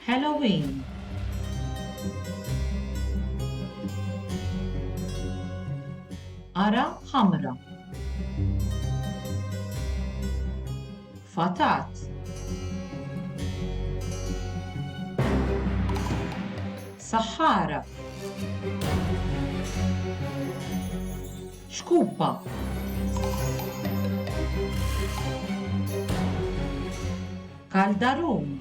Halloween. Qara ħamra. Fatat. Saħħara. Xkupa. Kaldarum.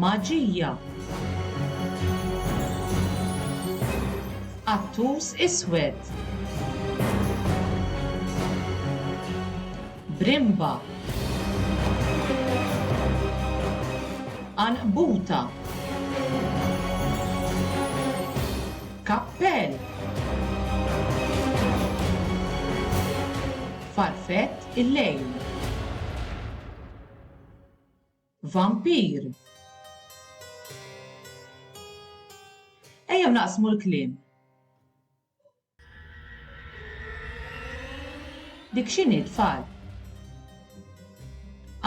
Maġija. Qattus iswed. Brimba. Għanqbuta. Kappell. Farfett il-lejl. Vampir. Ejjew naqsmu l-kliem. Dik x'inhi tfal?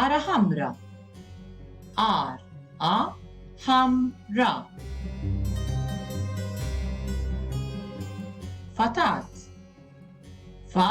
Ara ħamra. Ar a ħam ra. Fatat. Fa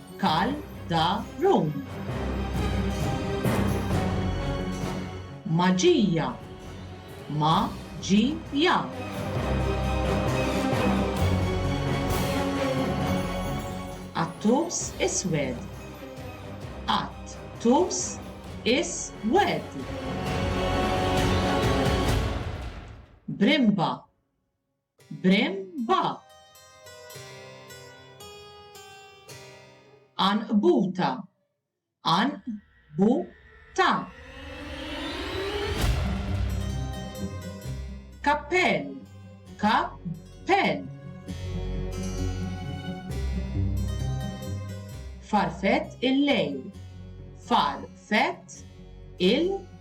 Cal da Rum. Maġija. Ma ġi ja. Attus iswed. Att tus is wed. Brimba. Brem ba. Anqbuta. Anq bu ta. Kappell. Kap pen. Farfett il-lejl. Far fett il